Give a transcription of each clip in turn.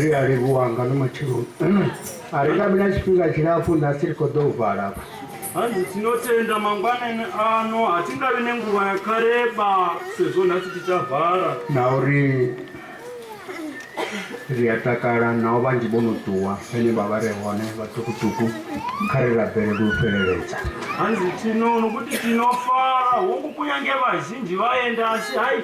Zwi a livhuwa nga no matsheloni a ri nga vhi na tshifhinga tshilapfu nda si ri khou ḓo u vala afha hanzi tinotenda mangwanani ano hatingavi nenguva yakareba sezvo nhasi tichavhara na uri ri a takala nao vhanzhi vho no ṱuwa vhane vha vha re hone vhaṱukuṱuku kha ri rabelele u fheleledza hanzi tinono kuti tinofara hongu kunyange vazhinji vaenda asi hai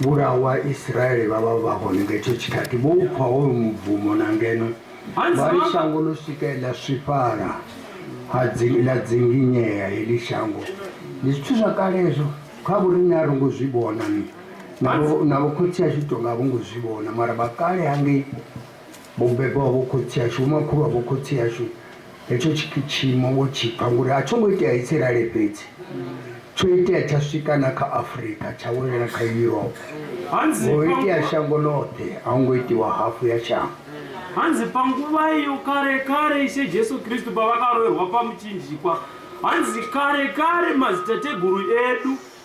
Vhulahwa Vhaisraele vha vha vha hone nga hetsho tshikhathi vho u pfa hoyu mubvumo, na ngeno vha ri, Shango ḽo swika he ḽa swifhala ha dzi, ḽa dzinginyea heḽi shango. Ndi zwithu zwa kale hezwo, kha vhoriṋe a ro ngo zwi vhona, na vho, na vhokhotsi ashu tou nga a vho ngo zwi vhona, mara vha kale hangei. Mubebi wa vho khotsi ashu, vhomakhulu wa vho khotsi ashu, hetsho tshiimo vho tshi pfa, ngori a tsho ngo itea Isiraele fhedzi, tsho itea tsha swika na kha Afrika, tsha welela kha Europe, ho itea shango ḽoṱhe, a ho ngo itiwa hafu ya shango. Hanzi pa nguva iyo kare kare, Ishe Jesu Kristu pavakaroerwa pamuchinjikwa, hanzi kare kare madzitateguru edu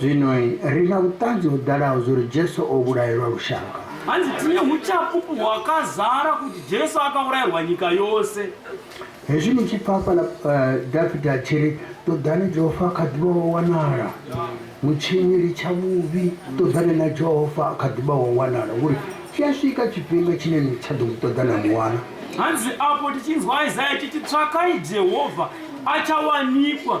Zwino ri na vhuṱanzi ho ḓalaho zwa uri Jesu o vhulaelwa lushaka. Hanzi tiye hu tshaphupu hwakazara kuti Jesu akavhulaelwa nyika yose. Hezwi ni tshi pfa hafhaḽa Dafita a tshi ri, Ṱoḓani Jehova a kha ḓi vha o wanala, mutshinyi litsha vhuvhi, ṱoḓani na Jehova a kha ḓi vha o wanala, ngori tshi a swika tshifhinga tshine ni tsha ḓo mu ṱoḓa na mu wana. Hanzi afho ti tshi nzwa Isaya tshi tshi, Tswakai Jehova, a tsha wanikwa,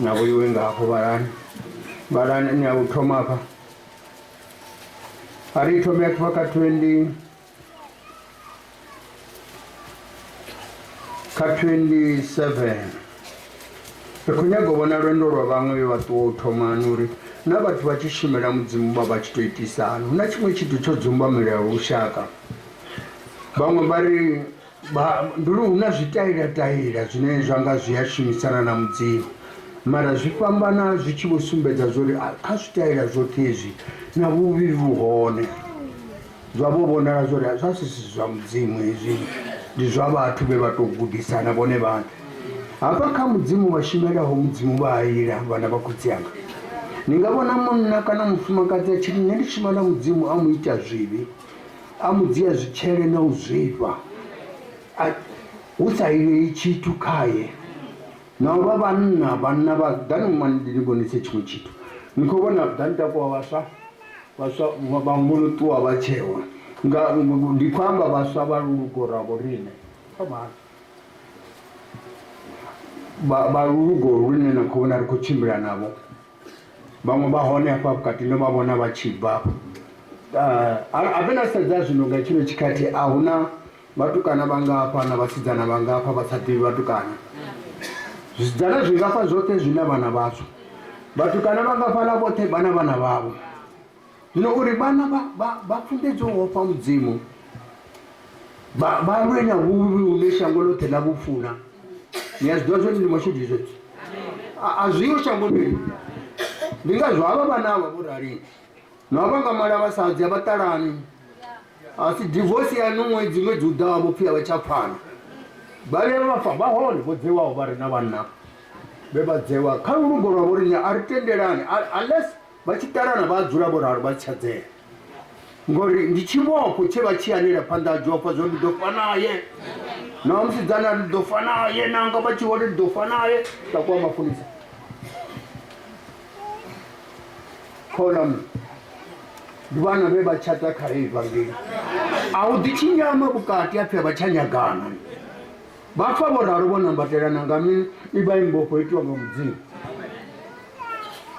Na vhoiwe nga hafho vhalani vhalani ni a u thoma hafha a ri thome a khifha kha 20 kha 27 ri khou nyaga u vhona lwendo lwa vhaṅwe vhe vha ṱuwa u thomani uri na vhathu vha tshi shumela mudzimu vha vha tshi tou itisani hu na tshiṅwe tshithu tsho dzumbamelela lushaka vhaṅwe vha ri Vhahanduli hu na zwitailatayila zwine zwa nga zwi a shumisana na Mudzimu, mara zwi fhambana zwi tshi vho sumbedza zwo ri kha zwitaila zwoṱhe hezwi na vhuvhi vhu hone. Zwa vho vhonala zwo ri zwa si si zwa Mudzimu hezwi, ndi zwa vhathu vhe vha tou gudisana vhone vhaṋe. Hafha kha Mudzimu vha shumelaho Mudzimu vha a ila, vhana vha khotsi anga. Ni nga vhona munna kana mufumakadzi a tshi ri, Nṋe ndi shuma na Mudzimu a mu ita zwivhi. A mu dzhia zwitshele na u zwifha, a, hu sa ilei tshithu khae. Na u vha vhanna, vhanna vha, ḓani mma ndi ni vhonise tshiṅwe tshithu. Ni khou vhona, ḓani takuwa vhaswa, vhaswa vhaṅwe vho no ṱuwa vha tshewa, nga, ndi khou amba vhaswa vha lulugo lwa vhoriṋe. Fhamani. Vha, vha lulugo lune na khou vhona ri khou tshimbila navho. Vhaṅwe vha hone hafha vhukati ndo vha vhona vha tshi bva afho. Ah, Ave na sedza zwino nga tshino tshikhathi a hu na vhatukana vha ngafha na vhasidzana vha ngafha vha sa ḓivhi vhatukana. Zwidzana zwi ngafha zwoṱhe zwi na vhana vhazwo. Vhatukana vha ngafhaḽa vhoṱhe vha na vhana vhavho. Zwino uri vhana vha funḓedzwe u ofha Mudzimu, vha lwe na vhuvhi vhune shango ḽoṱhe ḽa vhu funa. Ni a zwi ḓivha zwone ndi mashudu zwezwo, a zwi yo shangoni ḽi. Ndi ngazwo havha vhana avha vho rali na vha nga mala vhasadzi a vha ṱalani, a si divorce yaṋu ṅwedzi ṅwedzi u ḓaho vho pfhi a vha tsha pfana. Vha vhuya vha fa vha hone vho dzewaho vha re na vhanna vhe vha dzewa kha lugo lwa vho riṋe a ri tendelani unless Vha tshi ṱalana vha a dzula vho ralo vha si tsha dzea, ngori ndi tshivhofho tshe vha tshi anela phanḓa ha Jehova zwo ndi ḓo fa naye. Na musidzana ndi ḓo fa naye, nanga vha tshi vhona ndi ḓo fa naye, nda kwa mapholisa. Kholam ndi vhana vhe vha tshata kha evangeli. A u ḓi tshinyama vhukati apfi a vha tsha nyagana. Vha pfa vho ralo vho nambatelana nga mi i vha i mbofho yo itiwa nga Mudzimu.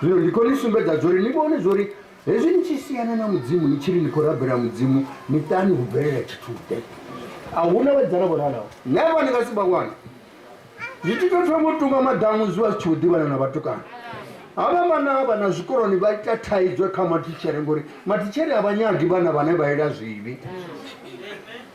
Zwino ndi khou ni sumbedza zwo ri ni vhone zwo ri hezwi ni tshi siana na Mudzimu ni tshi ri ni khou rabela Mudzimu ni ṱani hu bvelela tshithu-ḓe. A hu na vhadzala vho ralaho. Never ni nga si vha wane. Zwi tshi tou thoma u tunga maḓamu zwi vha zwi tshi vho ḓivhana na vhatukana. Havha vhana havha na zwikoloni vha ita thaidzo kha matitshere ngori matitshere a vha nyagi vhana vhane vha ila zwivhi.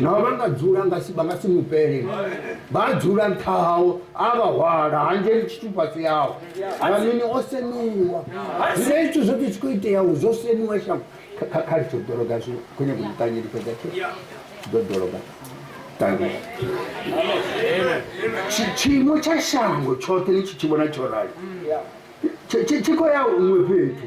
nao vha nga dzula nga si vha nga si mupele vha dzula nṱha hawo a vha hwala hanzheli tshithu fhasi yawo amini o semiwa zwine zwithu zwoṱhe zwi khou iteaho zwo semiwa shango kha litsho dologa zwi khou nyaka u ṱangeli fhedza tshe ḓo dologa ṱangela tshiimo tsha shango tshoṱhe ni tshi tshi vhona tsho rali tshi khou ya huṅwe fhethu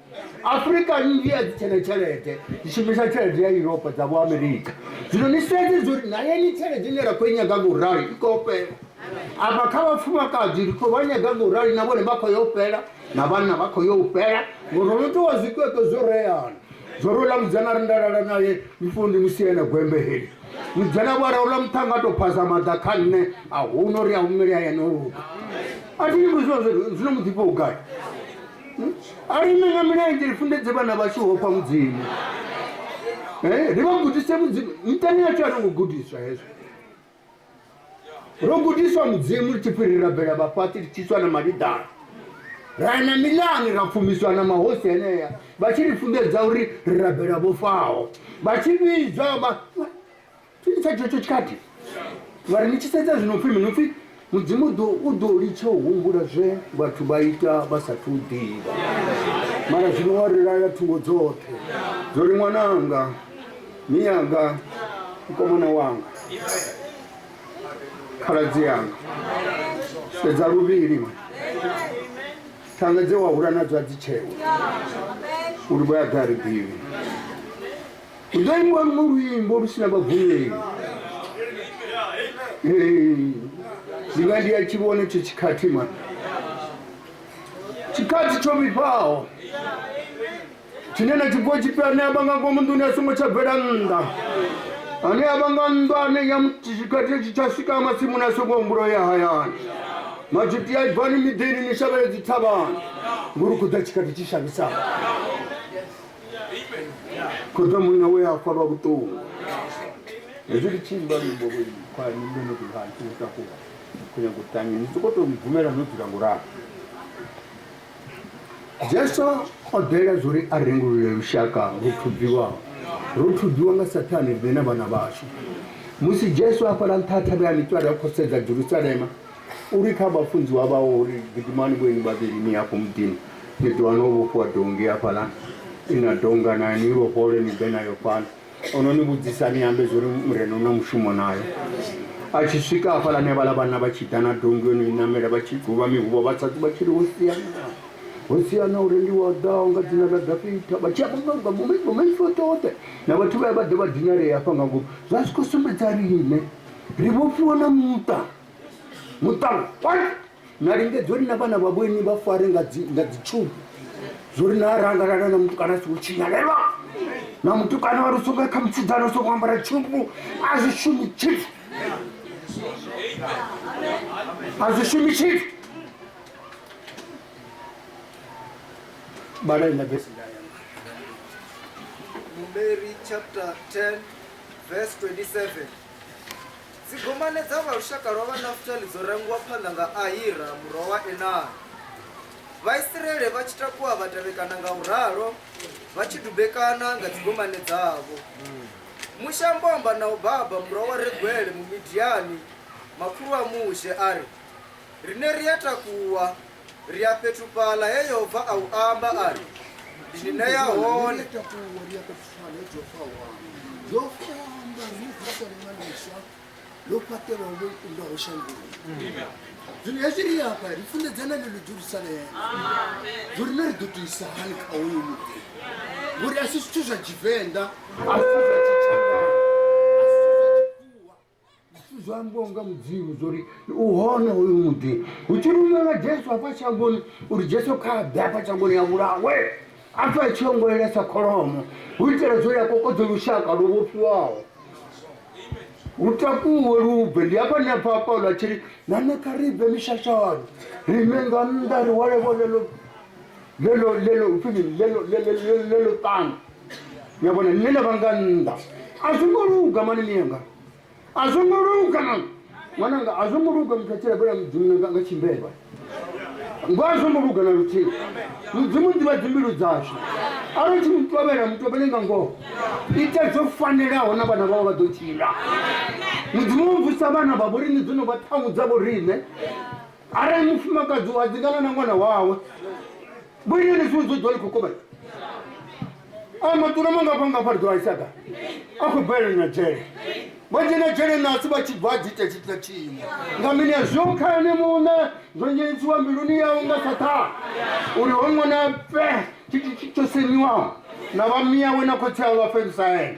afurika nnzhi a dzi tshena tshelede dzi shumisa tshelede ya yuropa dza vho amerika zwino ni sedze zwo ri nayeni tshelede ine ra khou i nyaga nga u rali i khou fhela afha kha vhafumakadzi ri khou vha nyaga nga u rali na vhone vha khou yo fhela na vhanna vha khou yo u fhela ngori ro no towa zwikweto zwo reana zwo ri ola mudzana ri ndalala naye mifundi musi ene gwembe heli mudzana vho raula muṱhanga a tou phasa maḓa kha nṋe a huno ri a humele hayani o luga a thi nyimbo zwino zwino muḓifha u gai Hmm? a ri ime nga milenzhe ri funḓedze vhana vhashu hofha mudzimu eh, ri vha gudise mudzimu miṱani yashu a ri ngo gudiswa hezwo ro gudiswa mudzimu ri tshi pfi ri rabela vhafhaṱi ri tshiswa na maliḓana ra ya na milani ra pfumiswa na mahosi enea vha tshi ri funḓedza uri ri rabela vho faho vha tshi vhidzwa Tshiitisa tshetsho tshikati vhari ni tshi sedza zwino pfi mini pfi mudzimu ḓo u ḓo litsha u humbula zwe vhathu vha ita vha sathu u ḓivha mara zwino wa ri laya thungo dzoṱhe zwo ri ṅwananga miyanga mukomana wanga khaladzi yanga sedza luvhili thanga dze wa hula nadzo a dzi tshewe uri vho ya ḓa ri ḓivhi Hu ḓo imbiwa luṅwe luimbo lu si na vhagumeli. Ndi nga ndi a tshi vhona tsho tshikhathi mani. Tshikhathi tsho vhifhaho. Tshine na tshi bvuwa tshipfi ane a vha nga ngomu nḓuni a songo tsha bvela nnḓa. Ane a vha nga nnḓu ane ya tshikhathi tshi tsha swika masimuni a songo humbula ya hayani. Majuti ya bvani miḓini ni shavhele dzithavhani. Ngori hu khou ḓa tshikhathi tshi shavhisaho. Khoḓa munna we a farwa vhuṱungu. Hezwi ndi tshi imba luimbo lwo khwa ni ndo no ḓi vha nthu takuwa. Khou nyaga u tanya ni soko to mbvumela no dzula ngo ralo. Jesu o ḓela zwo ri a rengulule lushaka lu thubiwaho. Ro thubiwa nga Saṱhane riṋe na vhana vhashu. Musi Jesu a fhala nṱha thavhani tswari a khou sedza Jerusalema, U ri kha vhafunziwa vhawe uri, Gidimani vhoinwi vhavhili ni ye afho muḓini, ni ḓo wana ho vhofhiwa donngi hafhaḽa i na donga nayo, ni i vhofhole ni ḓe nayo fhano. O no ni vhudzisa ni ambe zwo ri Murena u na mushumo nayo. A tshi swika hafhaḽani havhaḽa vhanna vha tshi ḓa na donngi yo no i namela vha tshi guvha mihuvho vha sa vha tshi ri, Hosiana! Hosiana! Uri ndi wa ḓaho nga dzina ḽa Dafita! Vha tshi amba nga nga vhomaipfi oṱhe oṱhe na vhathu vha ya vha ḓe vha dinalea hafha nga ngomu. Zwa zwi khou sumbedza riṋe. ri vhofhiwa na muṱa muṱa na lingedza uri na vhana vha vhoini vha fare nga dzitshubu zwo ri na rangalala na mutukana a songo tshinyalelwa na mutukana wa ri songo kha mutshidana u songo ambara tshubu a zwi shumi tshithu a zwi shumi tshithu balai na vesi Numeri chapter 10 verse 27 Dzigomane dza vha lushaka lwa Vhanafutali dzo rangiwa phanḓa nga Ahira murwa wa Enani. Vhaisraele vha tshi takuwa vha tevhekana nga u ralo, vha tshi dubekana nga dzigomane dzavho. Mushe a mbo amba na Hobaba murwa wa Reguele Mumidiani, makhulu a Mushe, a ri, Riṋe ri a takuwa, ri a fhethu fhaḽa he yehova a u amba a ri ndi ni ṋea hone ḽo fhaṱelwaho vho ikundaho shangoni zwino hezwi ri afha ri funḓedzana ḽe ḽo jerusalema zwo rine ri ḓo tuisa hani kha hoyo muḓi ngori a si zwithu zwa tshivenḓa a si zwa tshitshavha zwithu zwo ambiwa nga mudzimu zwo ri u hone hoyu muḓi hu tshi rumela jesu hafha shangoni uri jesu kha a ḓe hafha shangoni ya vhulawe a pfe a tshi ongolela sa kholomo hu itela zwo ya kokodze lushaka lwo vhofhiwaho hu takuwe lubve ndi hafha nṋe pfa paulo a tshi ri na nṋe kha ri bve mishashani rime nga nnḓa ri hwale vhone lo le lo le lo upfini le lo le le le le lo tanga ya bona nne na vanga nnḓa a zwo ngo luga mani miyanga a zwo ngo luga na ṅwananga a zwo ngo luga muthu a tshila bela mudzimu nga nga tshimbelwa ngo a zwo ngo luga na luthihi mudzimu ḓivha dzimbilu dzashu arali tshi mutovhela mutovhele nga ngoho ita zwo fanelaho na vhana vhao vha ḓo tshila mudzimu u bvusa vhana vha vhorine dzo no vha ṱhangu dza vhorine arali mufumakadzi wa dzingana na ṅwana wawe vhulini ni zwiṅwe zwodzwa ni khou kovhela a matura mangafhangafha ri ḓo aisaga a khou bvelela na dzhele vha dzhena dzhele nasi vha tshi bva dzi ita tshitila tshiṅwe nga mini ya zwo khani muṋe zwo nyenisiwa mbiluni yawe nga saṱhana uri ho ṅwana fe tshithu tsho semiwaho na vhamiyawe na khotsi awe vha fendusa ene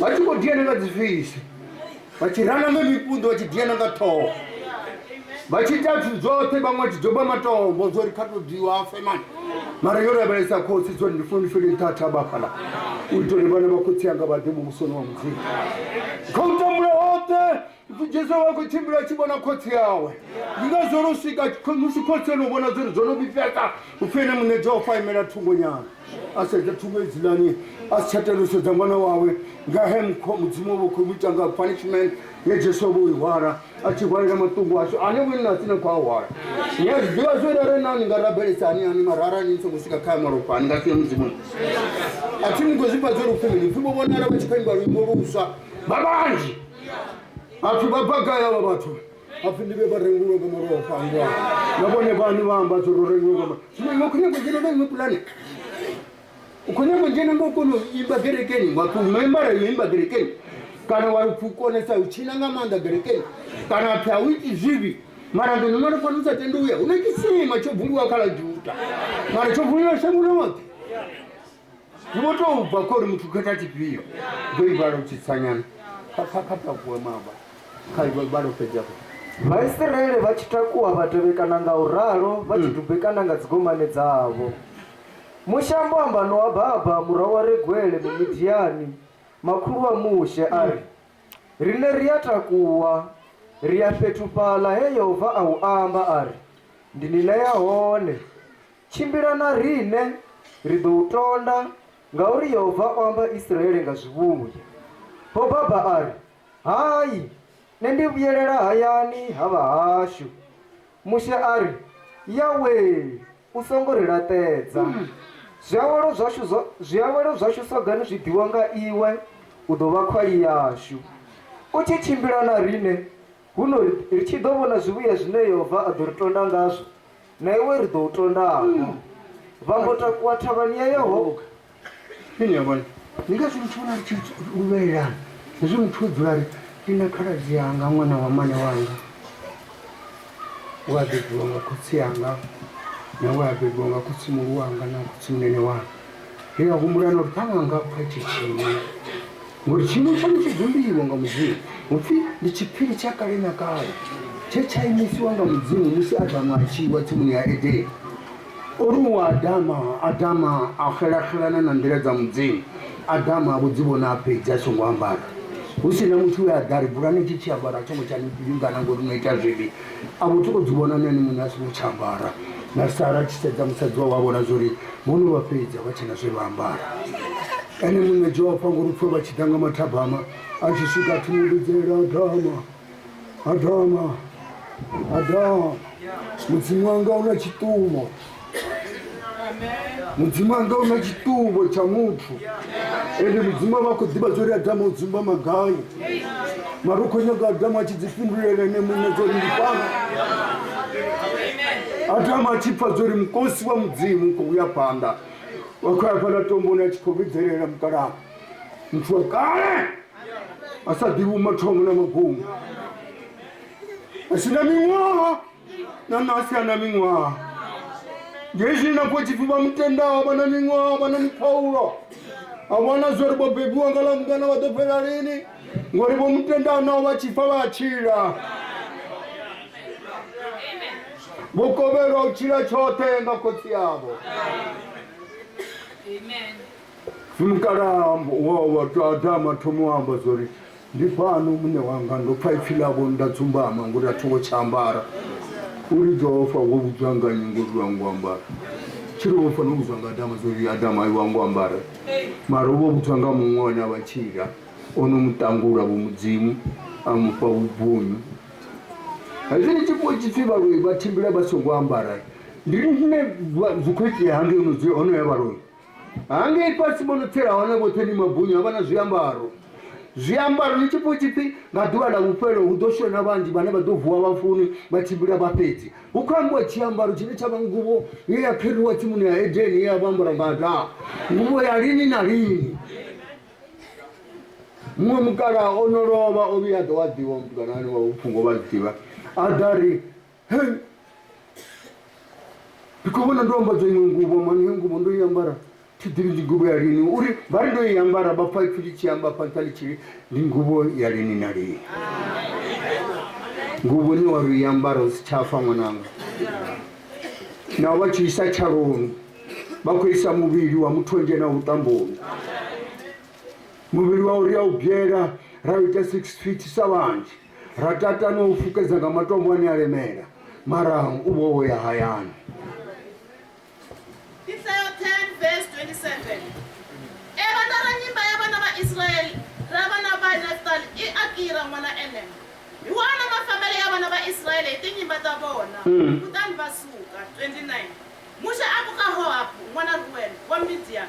vha tshi khou diana nga dzifisi vha tshi rana nga mipunḓo vha tshi diana nga ṱhoho vha tshi ita zwithu dzoṱhe vhaṅwe vha tshi doba matombo zwo ri kha to diwa afe mani mara yo lavhelesa khotsi zwo ri ndi funi fele thatha vhafhala u itela uri vhana vha khotsi anga vha ḓe muvhusoni wa mudzimu kha u tambula hoṱhe Ipfi Jesu a khou tshimbila a tshi vhona khotsi awe. Ndi ngazwo ro swika kho- musi khotsi ono vhona zwori zwo no vhifheka upfi ene muṋe Jehova a imela thungo nyana. A sedza thungo hedzilani a si tsha tenda u sedza ṅwana wawe nga he mukho- mudzimu wavha u khou mu ita nga punishment ye Jesu avha o i hwala a tshi hwalela maṱungu ashu ane vhone na tsini a khou a hwala. Ni a zwi ḓivha zwori arali na ni nga rabelesa hani hani mara arali ni songo swika kha ya malofha ni nga si ye mudzimuni. A thi ni khou zwifha zwori upfi mini upfi vho vhonala vha tshi khou imba luimbo luswa vha vhanzhi. vhathu vha bva gai avha vhathu hapfi ndi vhe vha rengiwe nga murahu fhangwa na vhone vhani vha amba tshi ro rengiwe nga murahu zwino iwe khou nyanga u dzhena na iwe pulane u khou nyanga u dzhena nga u kona u imba gerekeni wa tou membara yo imba gerekeni kana wa pfi u konesa u tshina nga maanḓa gerekeni kana pfi a u iti zwivhi mara ngeno mara fana u sa tendi uya hu na tshisima tsho vuliwa kha ḽa juda mara tsho vuliwa shango ḽoṱhe Zwi vho tou bva kha uri muthu khetha tshifhio ndo ivhala u tshi tsanyana kha kha kha takuwe maba kha ivhala u fhedza fhedza Vhaisiraele vha tshi takuwa vha tevhekana nga u ralo vha tshi dubekana nga dzigomane dzavho. Mushe a mbo amba na Oababa murwa wa Reguele Mumidiani, makhulu wa Mushe, a ri, Riṋe ri a takuwa, ri ya fhethu fhaḽa he Yehova a hu amba a ri, Ndi ni ṋea hone. Tshimbila na riṋe, ri ḓo u tonda, ngauri Yehova o amba Isiraele nga zwivhuya. Hobaba a ri, Hai, nṋe ndi vhuyelela hayani ha vhahashu. Mushe a ri, Yawee, u songo ri laṱedza. Zwiawelo zwashu zwa, zwiawelo zwashu sogani zwi ḓiwa nga iwe, u ḓo vha khwali yashu. U tshi tshimbila na riṋe, huno ri, ri tshi ḓo vhona zwivhuya zwine Yehova a ḓo ri tonda ngazwo, na iwe ri ḓo u tondaho vha mbo takuwa thavhani ya yehova ini yavhone ni nga si muthu vhona ri tshi luvhelelana hezwi muthu o dzula ri ndi na khaladzi yanga ṅwana wa mane wanga we a bebiwa nga khotsi yanga na we a bebiwa nga khotsi muhulu wanga na khotsi munene wanga Ndi a humbula na uri ṱhaṅwe a nga pfa tshi tshiwo ngori tshiimo tshaṋu tshi dzumbiwa nga mudzimu hu pfhi ndi tshiphiri tsha kale na kale tshe tsha imisiwa nga mudzimu musi adamu a tshiwa tsimuni ya edeni o ri u adama adama a xelaxelana na nḓila dza mudzimu adama a vho dzi vhona a fhedzi a songo ambara hu si na muthu we a ḓa ri bulani tshi tshi ambara a tsho ngo tsha ni vhingana ngori no ita zwivhi a vho tou dzi vhona na ene muṋe a songo tsha ambara na sara tshi sedza musadzi wawe a vhona zwori vhono vha fhedza vha tshena zwe vha ambara ene muṋe jofa ngori pfhe vha tshi ḓa nga mathabama a tshi swika a thoma vhidzela adama adama adama mudzimu wanga u na tshiṱumo mudzimu anga una chitumbo cha muthu ende mudzimu ava khou ḓivha zwo ri adamu udzumba magai mari u khou nyaga adamu a tshi dzifhindulela ene muṋe zwo ri ndifana adamu a tshi pfa zwo ri mukosi wa mudzimu u khou uya phanḓa wa khou ya phanḓa tomboni a tshi khou vhidzelela mukalaha muthu wa kale a sa ḓivhi umathomo na magumu a si na miṅwaha na na asi ana miṅwaha ngezwi na khou tshipfi vha mutendaho vha na miṅwaha vha na mukhaulo a vhona zwori vho bebiwa nga ḽa mungana vha ḓo fhela lini ngori vho mutendaho naho vha tshipfa vha tshila vho kovhelwa u tshila tshoṱhe nga khotsi yavho Mukalaha wawe a gwadama a thoma u amba zwa uri, Ndi fhano muṋe wanga, ndo pfa ipfi ḽavho nda dzumbama ngori a tho ngo tsha ambara. U ri, Jehova, wo vhudzwa nga nnyi ngori u a ngo ambara? Tshi ri, Wo fanela u vhudzwa nga Adama zwa uri, Adama, iwe a ngo ambara. Mara u vho vhudzwa nga muṅwe ane a vha Tshila, o no mu ṱangula Vho Mudzimu a mu fha vhubvunyu. Hezwi ni tshi pfa tshipfi vhaloi vha tshimbila vha songo ambara, ndi riṋe zwi khou itea hangei ho no dzula, ho no ya vhaloi? hangei fhasi vho no tsela hone vhoṱhe ndi mabunyo a vha na zwiambaro zwiambaro ni tshi pfha tshi pfi nga ḓuvha ḽa vhufhelo hu ḓo shona vhanzhi vhane vha ḓo vuwa vhafuni vha tshimbila vha fhedzi hu khou ambiwa tshiambaro tshine tsha vha nguvho ye ya kheriwa tsimuni ya edeni ye ya vha ambara nga adamu nguvho ya lini na lini muṅwe mukalaha o no lovha o vhuya a ḓo wa ḓivha mutukana ane wa vhupfungo vha ḓivha a ḓa ri Hey! ndi khou vhona ndo ambadza iṅwe nguvho mani yo nguvho ndo i ambara thi ḓivhi ndi nguvho ya lini uri vha ri ndo i ambara vha pfa ipfi ḽi tshi amba afha nṱha ḽi tshili ndi nguvho ya lini na lini nguvho ni wa ri i ambara u si tsha fa ṅwananga nao vha tshi isa tshaloni vha khou isa muvhili wa muthu o dzhena vhuṱamboni muvhili wa uri ya u byela ra u ita six feet sa vhanzhi Ra tata na u fukedza nga matombo ane a lemela, mara u vho wo ya hayani. Isaya 10 verse 27 E vhanda ra nyimba ya vhana vha Israeli ra vhana vha Naftali i Akira ṅwana Enem. Hi wana mafambele ya vhana vha Israeli hi tinyimba ta vona Mm. kutani va suka. 29 Muxe a ku ka Hohabu ṅwana Ruel wa Midian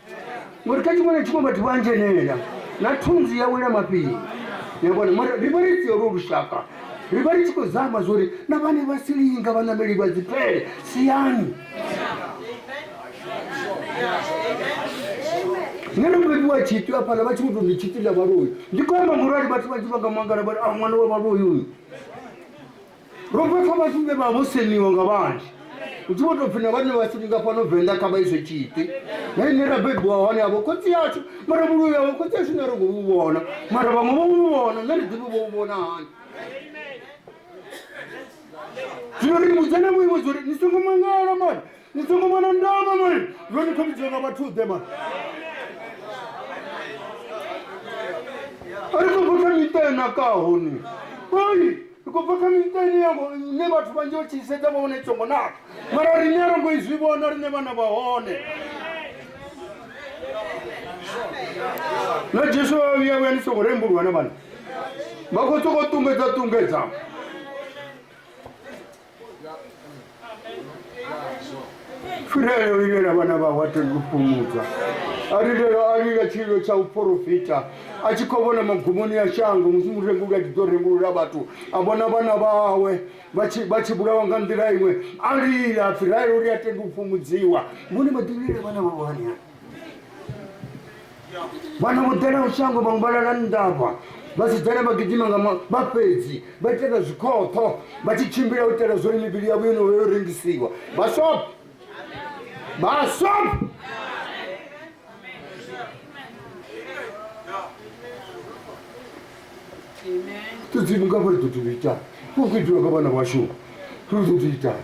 Mori ka tšimona tšimo batho ba njenela na thunzi ya wela mapili yabona mara ri vha ri tsiolo lushaka ri vha ri tshi khou zama zwori na vhane vha silinga vhaṋameli vha dzipele siyani nṋe ndo bebiwa tshitwi afhaḽa vha tshi muto ndi tshitwi ḽa vhaloyi ndi khou amba ngorali vhathu vhanzhi vha nga mangala vha a ah, ṅwana wa vhaloyi uyu ro vha kha vhathu vhe vha vho seniwa nga vhanzhi hu tshi vho tou pfhi na vhane vha sini nga fhano venḓa kha vha izwe tshiṱi na ine ra bebiwa hone avho khotsi yashu mara vhuloi avho khotsi yashu na ri khou vhu vhona mara vhaṅwe vho vhu vhona na ri ḓivhi vho vhu vhona hani zwino ri vhudzane vhuimo zwo ri ni songo mangala mani ni songo vhona ndama mani ro ni khomidziwa nga vhathuḓe mani a ri khou vhotha miṱa enakaho ni ai ri khou bva kha miṱa ine ya ngo- ine vhathu vhanzhi vha tshi sedza vha vhona i songo naka mara riṋe a ro ngo i zwi vhona riṋe vhana vha hone na jesu vha vha vhuya vhuya ni songo rembuluwa na vhana vha khou sokou ṱungedza ṱungedza fhirele u ilela vhana vhawe a tenda u fhumudzwa a lilela a lila tshililo tsha u porofita a tshi khou vhona magumoni ya shango musi murenguli a tshi ḓo rengulula vhathu a vhona vhana vhawe vha tshi- vha tshi vhulawa nga nḓila iṅwe a lila fhirele uri a tenda u fhumudziwa vhone vha ḓilela vhana vhawe hanea vhana vho ḓela shango vhaṅwe vha lala ndavha vhasidzana vha gidima nga vha fhedzi vha itela zwikhoṱho vha tshi tshimbila u itela zwori mivhili yavho yo no yo rengisiwa vhasop vhasop tudzimu nga vhori ḓo tou itani u ḓo itiwa nga vhana vhashu ri ḓo tou itani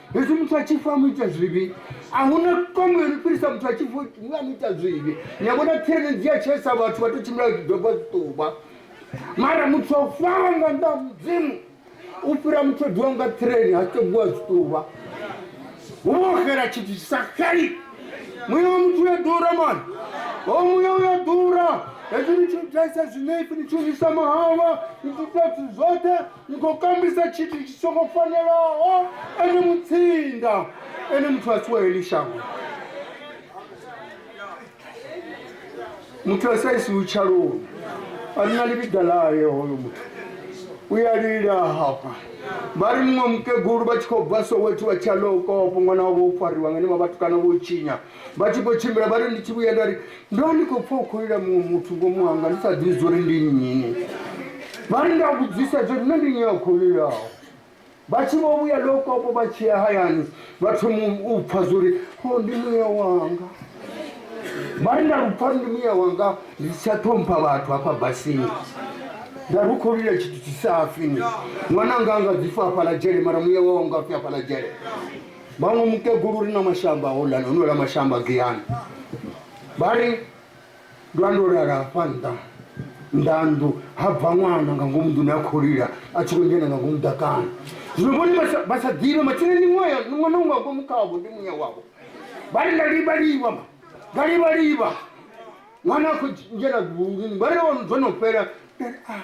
hezwi muthu a tshi fa mu ita zwivhi a hu na tombo yo no fhirisa muthu a tshi fa mu a mu ita zwivhi ni a vhona tsireledzi ya tshaisa vhathu vha tou tshimbila vha tshi doba zwiṱuba mara muthu a fawa nga nnḓa ha mudzimu u fhira muthu o diwa nga ṱhireni ha tebuwa zwiṱuba hu vha ho xela tshithu tshi sa xeli muya wa muthu uya ḓura mani ho muya uya ḓura hezwi ni tshi u tshaisa zwinefi ni tshi u isa mahalwa ni tshi ita zwithu zwoṱhe Ni khou kombisa tshithu tshi songo fanelaho ene mutsinda, ene muthu a si wa heḽi shango, muthu a sa isiwi tshaloni. A ri na ḽivhiḓa ḽaye hoyo muthu, u ya lila hafha. Vha ri muṅwe mukegulu vha tshi khou bva Soweto vha tshi ya Loukopo, ṅwana wavho o fariwa nga henevha vhatukana vho tshinya. vha tshi khou tshimbila vha ri ndi tshi vhuya nda ri ndo vha ndi khou pfha u khou lila muṅwe muthu ngomu hanga ndi sa ḓivhi zwo ri ndi nnyi vha ri nda vhudzisa zwo ri nṋe ndi nnyi a khou lilaho vha tshi vho vhuya lokopo vha tshi ya hayani vha thoma u pfha zwo ri o ndi muya wanga vha ri nda lupfa ri ndi muya wanga ndi si tsha ṱhompha vhathu hafha basini nda ri u khou lila tshithu tshi sa fini ṅwananga anga dzi fa hafhaḽa dzhele mara muya wawo nga fi hafhaḽa dzhele vhaṅwe mukegulu uri na mashamba a holani o nwela mashamba giyani vha ri ndo a ndo lala hafha nṱa nḓanḓu ha bva ṅwana nga ngomu nḓuni a kholila a tshi khou dzhena nga ngomu ḓakana zwino vhone vha sa ḓivhe mathina ndi ṅwana ṅwana unga ngomu khavho ndi muya wavho vha ri nda livha livha ma nda livha livha ṅwana a khou dzhena vhulini vha ri dzo no fhela ah,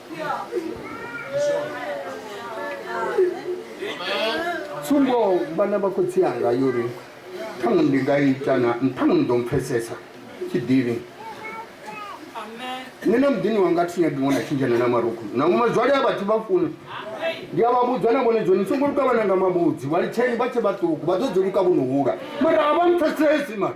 tsumbo vhana vha khotsi anga yori ṱhaṅwe ndi nga ita na ṱhaṅwe ni ḓo mpfesesa tshiḓivhi nṋe na muḓini wanga thi nyagi ṅwana tshinzhana na marukhu na mazwale a vhathu vha funi ndi a vha vhudza na vhone dzoni songo luka vhana nga mavhudzi vha litsheni vha tshe vhaṱuku vha ḓo dzi luka vho no hula mara a vha mpfesesi mara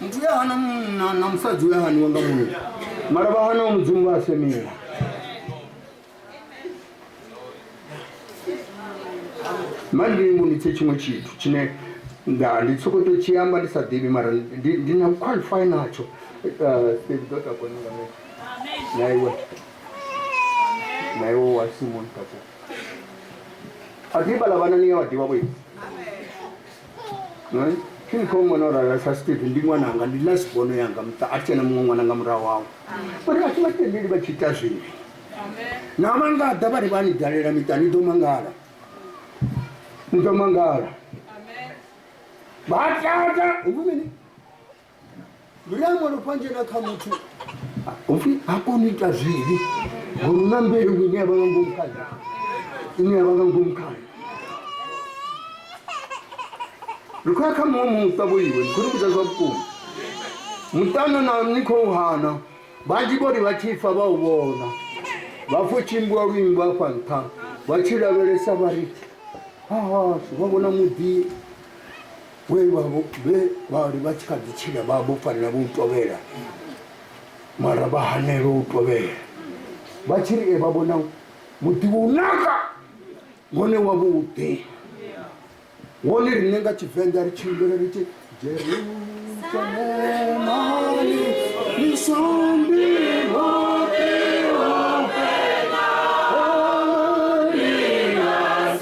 Muthu we a hana munna na musadzi we a haniwa nga munna mara vha hanaho mudzimu vha a semiwa manje ndi mbonitse tshiṅwe tshithu tshine nda ndi soko to tshi amba ndi sa ḓivhi mara ndi ndi na qualify natsho Eh, Steve, ḓo takuwa ni nga nṋe. na iwe na iwe wa simoni takuwa a ḓivha ḽa vhana ni ya vha ḓivha vhoiwe thi ni khou ṅwana o rala sa steve ndi ṅwananga ndi na sibono yanga muṱa a thi tshena muṅwe ṅwana nga murahu wawe uri a thi vha tendeli vha tshi ita zwivhi na vha nga ḓa vha ri vha ni dalela miṱa ni ḓo mangala ni ḓo mangala vha tata huvhu mini lulambo lu panjena kha muthu upfi ha koni u ita zwivhi ngori una mbeu ine yavha nga ngomu khayo ine yavha nga ngomu khayo ri khou ya kha muṅwe muṱa vho iwe ndi khou ni vhudza zwa vhukuma muṱana na ni khou hana vhanzhi vho ri vha tshi fa vha u vhona vha pfo tshimbiwa luimbo afha nṱha vha tshi lavhelesa vha ri hahashu vha vhona muḓi Vhe vha vho- vhe vha ri vha tshi kha ḓi tshila vha vho fanela vho u tovhela mara vha hanelwa u tovhela vha tshi ri e vha vhona muḓi wo naka wone wa vhuḓi wone riṋe nga tshivenḓa ri tshimbila ri tshi jerusalemani ni sambi hoṱhe hoṱhe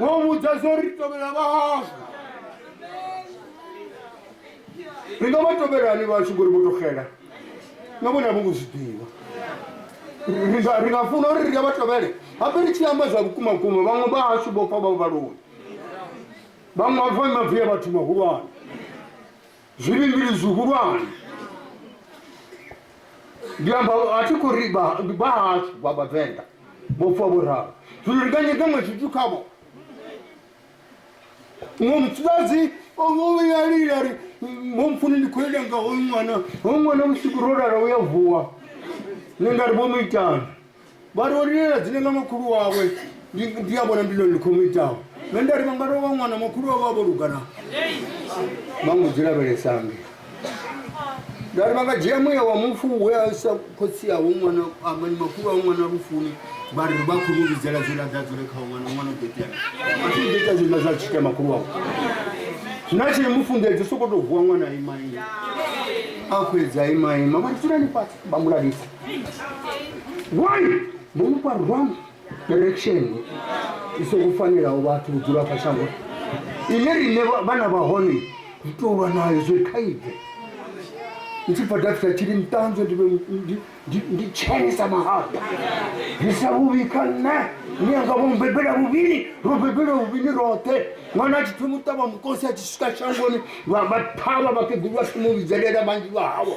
wo vhudza zwo ri tovhela vhahashu ri nga vha tovhelani vhashu ngori vho to xela na vhone avho ngo zwi ḓivha Ri nga- ri nga funa uri ri nga vha tovhele hape ri tshi amba zwa vhukuma vhukuma vhaṅwe vhahashu vho fa vha vhaloni vhaṅwe vha fa mavi a vhathu mahulwane zwivhilivhili zwihulwane ndi amba a thi khou ri vha- ndi vhahashu vha vhavenḓa vho fa vho ralo zwino ndi nga nyeka nga tshithu khavho muṅwe mufumakadzi ovhuyalila ri momfuni ndi khou ita nga hoyu ṅwana hoyu ṅwana vhusiku ro lala u ya vuwa ni nga ri vho mu itani vha ri o lilela dzine nga makhulu wawe ndi ndi a vhona ndilo likho mu itaho nṋe nda ri vha nga tou vha ṅwana makhulu wawe a vho lugana vha ngo dzi lavhelesange nda ri vha nga dzhia muya wa mufu we a sa khotsi awo ṅwana amani makhulu awo ṅwana lufuni vha ri vha khou mu vhidzela zwiḽa dza dzule khawo ṅwana ṅwana u ḓo itea a thi ḓo ita zwiḽa zwa tshita makhulu wawe zwina tshi mufunḓedzi u sokou tou vuwa ṅwana a imaima a khou edza a imaima vha ri dzulani fhasi vha mu lavhisa why mumufha wrong direction i songo fanelaho vhathu u dzula kha shango ine rine vhana vha hone ri tou lwa nayo zwo khaide ndi tshi bva dafisa tshili nṱanzwe ndi tshene sa mahata ndi sa vhuvhi kha nṋe ni yanga vho mubebela vhuvhili ro bebela vhuvhili roṱhe ṅwana a tshi pfhi muṱavha mukosi a tshi swika shangoni vha thavha vhakegulu vha tshi mu vhidzelela vhanzhi vha hawo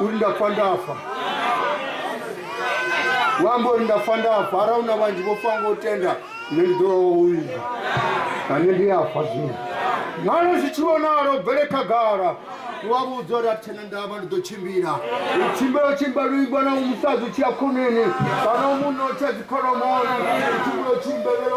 uri ndafa ndafa wamba uri ndafa ndafa ara una vanji vofanga utenda ne ndi ḓo vha wovhidza ane ndi afa zwino nalo zwi tshi vhonalo bvele khagala wa vhudza uri athena ndavha ndi ḓo tshimbila u tshimbila u tshimbila luimbo na u musadzi u tshiya khoneni kana u munotha dzikholomoni u tshimbila u tshimbelela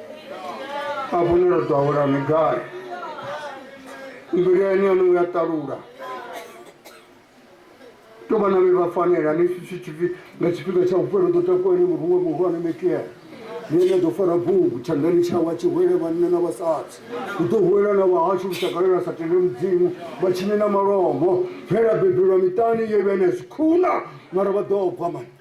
hafhu ni ro ḓowela ni gai mbilu yani yanu ya ṱalula to vhana vhe vha fanela ni nga tshifhinga tsha vhupelo ḓo takuwa ni muruwe muhulwane mekiela nene ḓo fara bugu tshandani tshawa tshi hwele vhanna na vhasadzi u ḓo hwela na vhahashu lushakalela sa tende mudzimu vha tshine na malombo phela bebelwa miṱani ye vhene zwikhuna mara vha ḓo bva mani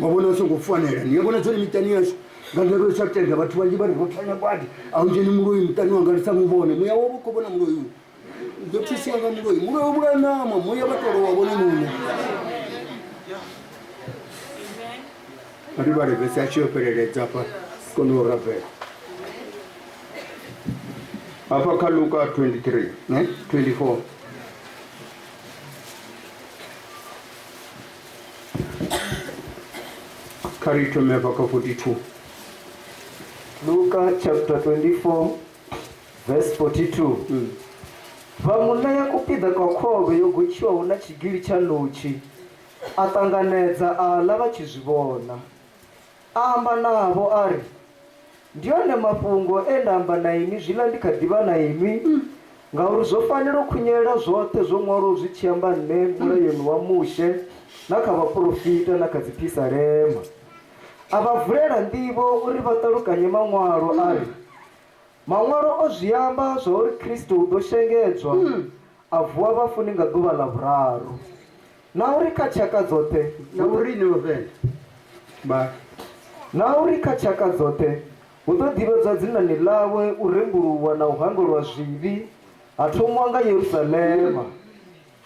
wavona u songo fanela ni yavona tsone miṱani yashu nga ndavha u sa tenda vhathu vhanzhi vha ri ro thanya badi a u dzheni muloi muṱani wanga ndi sa mu vhone muya wavho u khou vhona muloi u ḓo thusiwa nga muloi muloi u vhulaya ṋama muya vha tolo wa vhone muṋe ri vhale vhesi a tshi yo fheleledza afha kone u rabela hafha kha luka 23 ne 24 Kha ri thome hafha kha 42. Luka chapter 24 verse 42. Mm. Vha mu ṋea kupiḓa kwa khovhe yo gotshiwaho na tshigili tsha ṋotshi, a ṱanganedza a ḽa vha tshi zwi vhona. A amba navho a ri, Ndi one mafhungo e nda amba na inwi zwiḽa ndi kha ḓi vha na inwi, ngauri zwo fanela u khunyelela zwoṱhe zwo ṅwalwaho zwi tshi amba nṋe Mulayoni wa Mushe na kha vhaporofita na kha dziphisalema. A vha vulela nḓivho uri vha ṱalukanye Maṅwalo a ri, Maṅwalo o zwi amba zwa uri Kristo u ḓo shengedzwa a vuwa vhafuni nga ḓuvha ḽa vhuraru. Na uri kha tshaka dzoṱhe. Na uri no vhenda vha. Na uri kha tshaka dzoṱhe hu ḓo ḓivhadzwa dzinani ḽawe, u rembuluwa na u hangwelwa zwivhi ha thomiwa nga Yerusalema.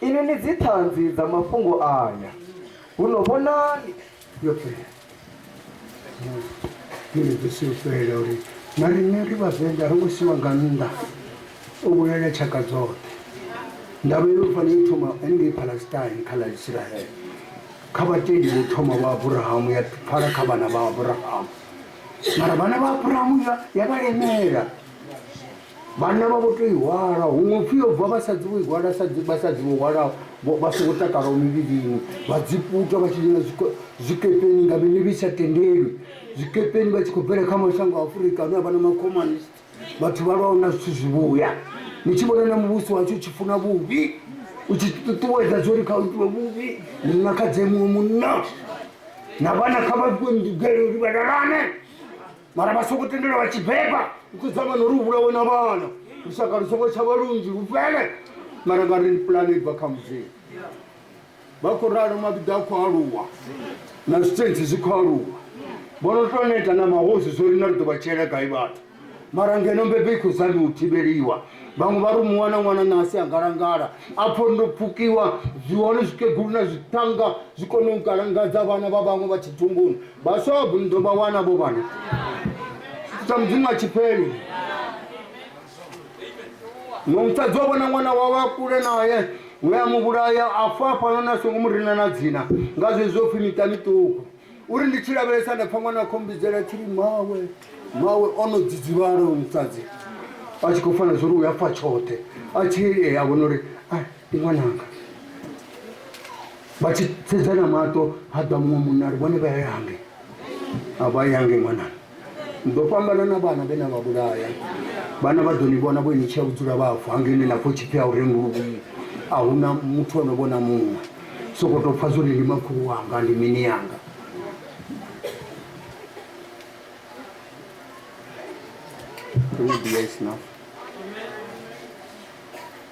Inwi ni dzi ṱhanzi dza mafhungo aya. Huno vhonani! yoṱhe mbeḓisi u fhelela uri na riṋe ri vhavenḓa ro ngo siwa nga nnḓa o vhulalela tshaka dzoṱhe ndavha yo fana yo thoma ngei palestine kha ḽa israele kha vhatendi vho thoma vha abrahamu ya pfala kha vhana vha abrahamu mara vhana vha abrahamu ya vhalemela Vhanna vha vho tou i hwala, huṅwe u pfi yo bva vhasadzi vho i hwala sa dzi vhasadzi vho hwalaho vho vha songo takalaho mivhilini, vha dzi puta vha tshi dzhena zwiko- zwikepeni nga mililo i sa tendelwi, zwikepeni vha tshi khou bvela kha mashango a Afurika ane a vha na makhomanist, vhathu vha lwaho na zwithu zwivhuya. Ni tshi vhona na muvhuso washu u tshi funa vhuvhi, u tshi ṱuṱuwedza zwo ri kha u itiwe vhuvhi, ni nga kha dze muṅwe munna na vhana kha vha fhiwe ndugelo uri vha lalane. mara vha songo tendela vha tshi beba ukuzama nori u vhulawe na vhana lushaka lu songo tshavha lunzhi lu fhele mara nga ri pulane ibva kha mudzimu vha khou ralo mavhiḓa a khou aluwa na zwitentsi zwi khou aluwa vho no to neta na mahosi zwo ri na ri ḓo vha tshiela gai vhathu mara ngeno mbebe i khou zami u thivheliwa vhaṅwe vha ri muwa na ṅwana na asi a ngalangala apho ndo pfukiwa zwi hone zwikegulu na zwithanga zwi kone u ngalangadza vhana vha vhaṅwe vha tshitumbuni Vhaswa vha bundo vha wana vho vhana tshithu tsha mudzimu a tshi fheli. Muṅwe musadzi wa vhona ṅwana wawe a kule naye we a mu vhulaya a fa hafhanoni a songo mu rina na dzina nga zwezwo pfhi miṱa miṱuku uri ndi tshi lavhelesa nda pfha ṅwana a khou mbidzela tshi ri mawe mawe o no dzidzivhala uyu musadzi a tshi khou fana zwo ri u a fa tshoṱhe a tshi ea vhona uri a ndi ṅwananga vha tshi sedzana maṱo ha ḓa muṅwe munna ri vhone vha yange a vha yange ṅwanana ni ḓo fhambana na vhana vhe na vha vhulaya vhana vha ḓo ni vhona vho ni tshia u dzula vhafu hangene na pfho tshipfi a u renguluvhii a hu na muthu o no vhona muṅwe soko tou pfha zwori ndi makhulu wanga ndi mini yanga Can you be nice now?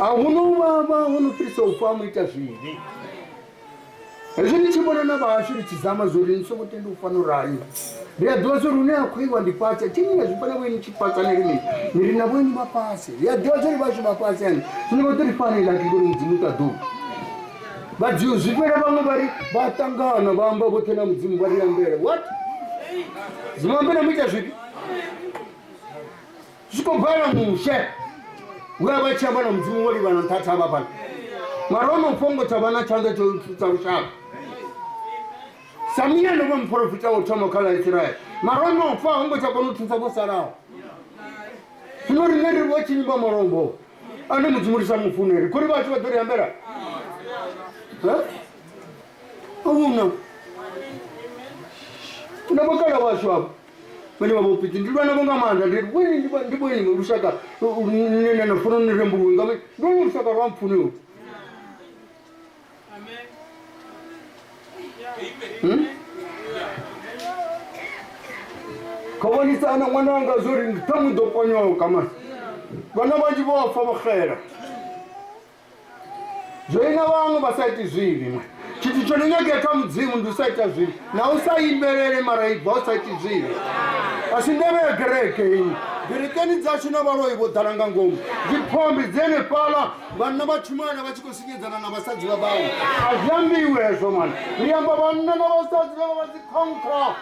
a hu no vhavha ho no fhirisa u fa mu ita zwivhi hezwi ndi tshi vhona na vhahashu ri tshi zama zwo ri ni songo tendi u fana urali ri a ḓivha zwo ri hune a khou iwa ndi fhasi thi ni nga zwi vhona vhoini tshi fhasi ni ri mini ni ri na vhoini vha fhasi ri a ḓivha zwo ri vhashu vha fhasi ani zwino vha ḓo ri fana ila ki ngori mudzimu ta ḓuvha vha dziu zwi fhela vhaṅwe vha ri vha ṱangana vha amba vhoṱhe na mudzimu vha ri ambela what zwi mu ambela mu ita zwifhi zwi khou bala mushe we a vha tshi amba na mudzimu wo livhana nṱha thavha fhano mara o no fhongo tsha vha na tshanḓa tsho tsha lushaka samiya ndo vha muporofita wo thoma kha ḽa israele mara o no fa ho ngo tsha kona u thusa vho salaho zwino riṋe ri vho tshinyi vha malombo ane mudzimu ri sa mu funeli khori vhathu vha ḓo ri ambela uno na vhakala washu avho vhane vha vha fhedzi ndi lwana vho nga maanḓa ndi bweni ndi bweni- ndi bweni nga lushaka lune na na funa ni rembuluwe nga mini ndi lwa lushaka lwa mpfuni lu kha vhonisana ṅwana wanga zwo ri ṱhaṅwe ḓo ponyoka mani vhana vhanzhi vho fa vho xela zwoina vhaṅwe vha sa iti zwivhi mwe tshithu tsho no nyagea kha mudzimu ndi u sa ita zwivhi na u sa imbelele mara ibva u sa iti zwivhi a si ndeme ya gereke iyi gerekeni dzashu na vhaloi vho ḓala nga ngomu dziphombi dzi henefhala vhanna vha tshumaana vha tshi khou sinyedzana na vhasadzi vha vhaṅwe a zwi ambiwe hezwo mani ri amba vhanna na vhasadzi vha vha vha dzikhonkhwa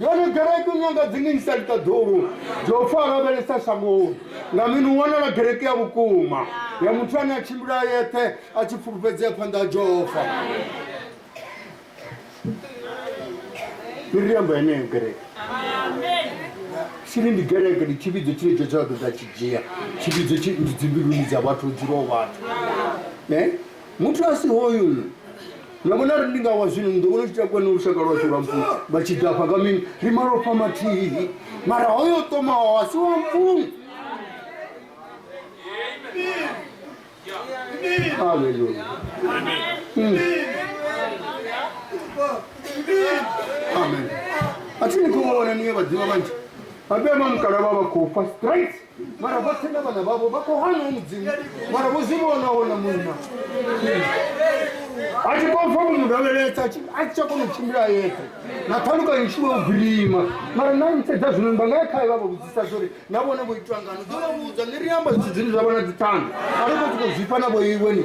Yone gereke u nyanga dzine ni sa ita ḓulu dzo pfa lavhelesa shangoni nga mini u wanala gereke ya vhukuma ya muthu ane a tshimbila a yeṱhe a tshi pfulufhedzea phanḓa ha Jehova. Ni ri amba yeneyo gereke. Sili ndi gereke ndi tshivhidzo tshine tsho tsha ḓo ḓa tshi dzhia tshivhidzo tshi ndi dzimbiluni dza vhathu dzulo vhathu. Eh? Muthu a si hoyu nṋe. Na vhona ri ndi nga wa zwino ni ḓo vhona u tshi takuwa ni lushaka lwashu lwa mpungu vha tshi ḓafha nga mini ri malofha mathihi mara hoyo o ṱomaho a si wa mpungu Hallelujah. Mm. Amen. A thi ni khou vha vhona ni ye vhaḓivha vhanzhi. Vhabewa mukala vha vha khou fa straight. mara vhoṱhe na vhana vhavho vha khou hana u mudzimu mara vho zwi vhona wona munna a tshi khou pfa munhu lavheletsa a tshi tsha kona u tshimbila yeṱhe na ṱhalukanyo tshi vha u grima mara na nsedza zwino vha nga ya khae vha vha vhudzisa zwa uri na vhone vho itwa ngano ḓo vha vhudza ni ri amba zwithu zwine zwa vha na dziṱhanga a ri khou sokou zwifha na vho iwe ni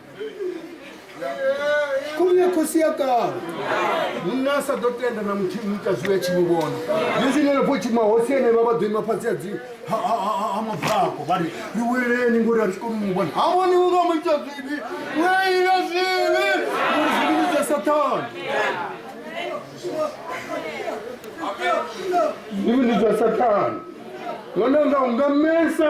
khomye khosi ya kale munna a sa ḓo tenda na muthihi u ita zwiwe tshi mu vhona yezinele pho tshima hosi ene vha vha ḓo ima fhasi ha mabvako vha ri ri weleni ngori a ri si koni mu vhona ha vhoni u nga mu ita zwivhi u a ila zwivhi ngori zwivhini zwa sathana zwivhini zwa sathana ṅwananga u nga mesa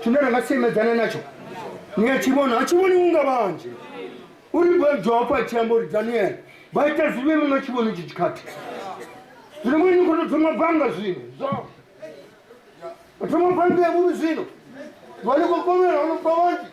tshine ra nga semedzana natsho ni a tshi vhona a tshi vhoni unga vhanzhi uri joapo a tshi amba uri daniele vha ita zwivhe muno tshi vhoni tshi tshikhathi zwino vhoi ni kho to thoma banga zwino zwo thoma banga ya vhuvhi zwino vha ni khou kovhela ono bva vhanzhi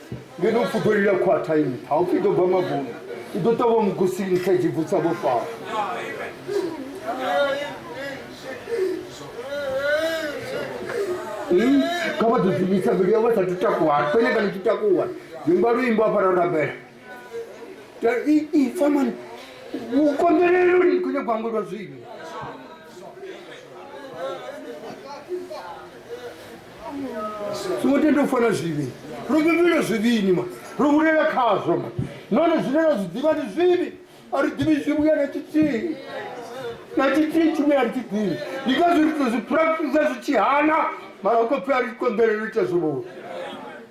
ngeno u pfuḓolila khwaṱhaini ha u pfi ḓo bva mabuna i ḓo ṱavha mugusi nṱha dzi vutsa vho fara kha vha ḓo zwivhisa mbilu yavho sa tutakuhana fene kana tutakuhana vimba luimbo afha ra rabela ifa mani u konḓeleloni khone gwango lwa zwino songo tenda u fana zwivhi ro vhevhela zwivhini ma ro hulela khazwo ma nahone zwine ra zwi ḓivha ndi zwivhi a ri ḓivhi zwivhuya na tshithihi na tshithihi tshine a ri tshi ḓivhi ndi ngazwo ri to zwi practisa zwi tshi hana mara u khou pfhi a ri konḓelelo ita zwivhuya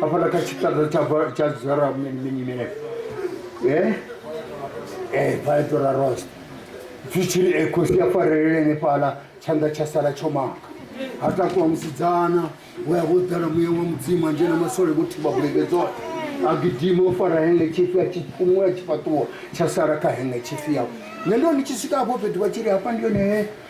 hafhala kha tshiṱaḓa tsha Ba- tsha zara mini mini mini eh eh baetora rose zwi tshiri eh, khosi ya farelele nefhala tshanḓa tsha sala tsho maka ha takuwa musidzana we a vho ḓala muya wa mudzimu a dzhena masole vho thiba bulege dzoṱhe a gidima o fara henge tshifi a tshi fhumula tshifhaṱuwo tsha sala kha henge tshifi yawe nṋe ndo ndi tshi swika hafho fhethu vha tshi ri hafha ndi yone he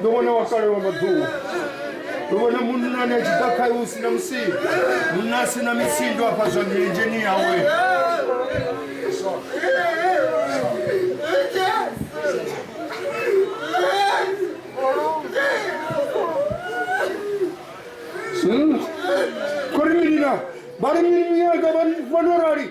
ndo vhona wa kale wa maḓuvha ndo vhona munnani a tshi ḓa khae hu sina musindo munna a sina misindo afha zwa milenzheni yawe kuri mini na vha ri mini miyaka vha no rali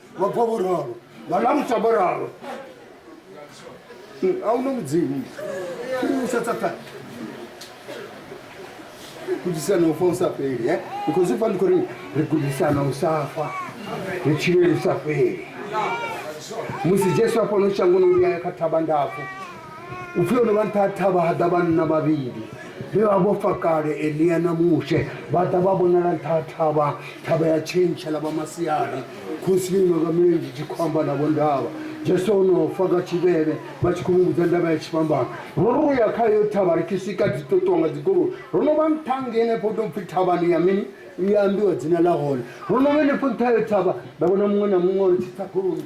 vha bva vho ralo vha lamutsa vho ralo hmm, a u na mudzimu u sa tsatani gudisana u fa u sa fheli e because ufa ndi khou ri ri gudisana u sa fa ri tshileli u sa fheli musi jesu a fhano shangoni u vhuya ya kha thavha ndapfu U pfi ho no vha nṱha ha thavha ha ḓa vhanna vhavhili vhe vha vho fa kale elia na mushe vha ḓa vha vhonala nṱha ha thavha thavha ya tshentsha ḽa vha masiari khosi yo inoka milenzhe tshi khou amba navho ndavha jesu o no fa nga tshivhele vha tshi khou muvhudza ndavha ya tshifhambano ro ro ya kha yo thavha ri tshi swika dzi ṱoṱiwa nga dzigoloi ro no vha nṱha ngenefho tou pfhi thavhani ya mini ya ambiwa dzina ḽa hone ro no vha henefho nṱha yo thavha nda vhona muṅwe na muṅwe ri tshi tsa goloi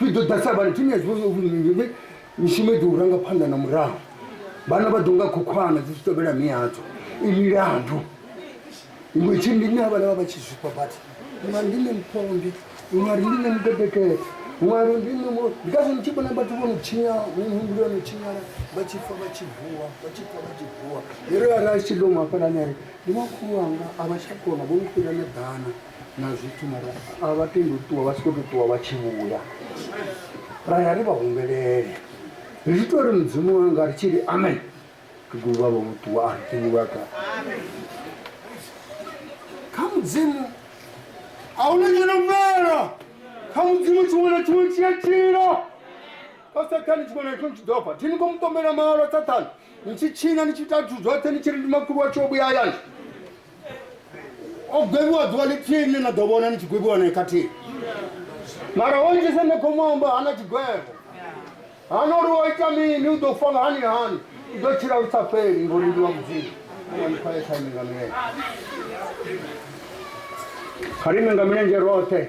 ri ḓo ḓa sa vhana thimu ya zwivha zwauri mishumo i ḓo u ranga phanḓa na murahu vhana vha ḓo nga khokhwana dzi tshi tovhela mi yadzo i milandu iwe tshi ndi na vhana vha vha tshi zwifha vhathu nga ndi ne mphonde nga ndi ne mudedekete nga ndi ne mo ndi ka zwi tshi vhona vhathu vho no tshinya muhumbulo wo no tshinyala vha tshi fa vha tshi vuwa vha tshi fa vha tshi vuwa ri ra ra tshi ḓo mafhalani ari ndi makhulu anga a vha tsha kona vho no fhira na ḓana na zwithu mara a vha tendi u ṱuwa vha tshi khou tou ṱuwa vha tshi vhuya ra ya ri vha humbelele ri tshi tou ri mudzimu wanga ri tshi ri amen kegulu vha vho ṱuwa a ri tendi vha ka kha mudzimu a hu na tshino mvela kha mudzimu tshiṅwe na tshiṅwe tshi a tshila kha sathane tshiṅwe na tshiṅwe tshi ḓo fa thi ni khou mu ṱombela mahalwa sathane ni tshi tshina ni tshi ita zwithu zwoṱhe ni tshi ri ndi makhulu wa tshi o vhuya hayani o gwevhiwa ḓuvha ḽithihi ni na ḓo vhona ni tshi gwevhiwa nae khathihi mara o itisa ne khomu amba hana tshigwevho hana uri o ita mini u ḓo fa nga hani hani u ḓo tshila lu sa fheli ngori ndi wa mudzimu onikhoesaimi nga milenzhe kha ri ime nga milenzhe roṱhe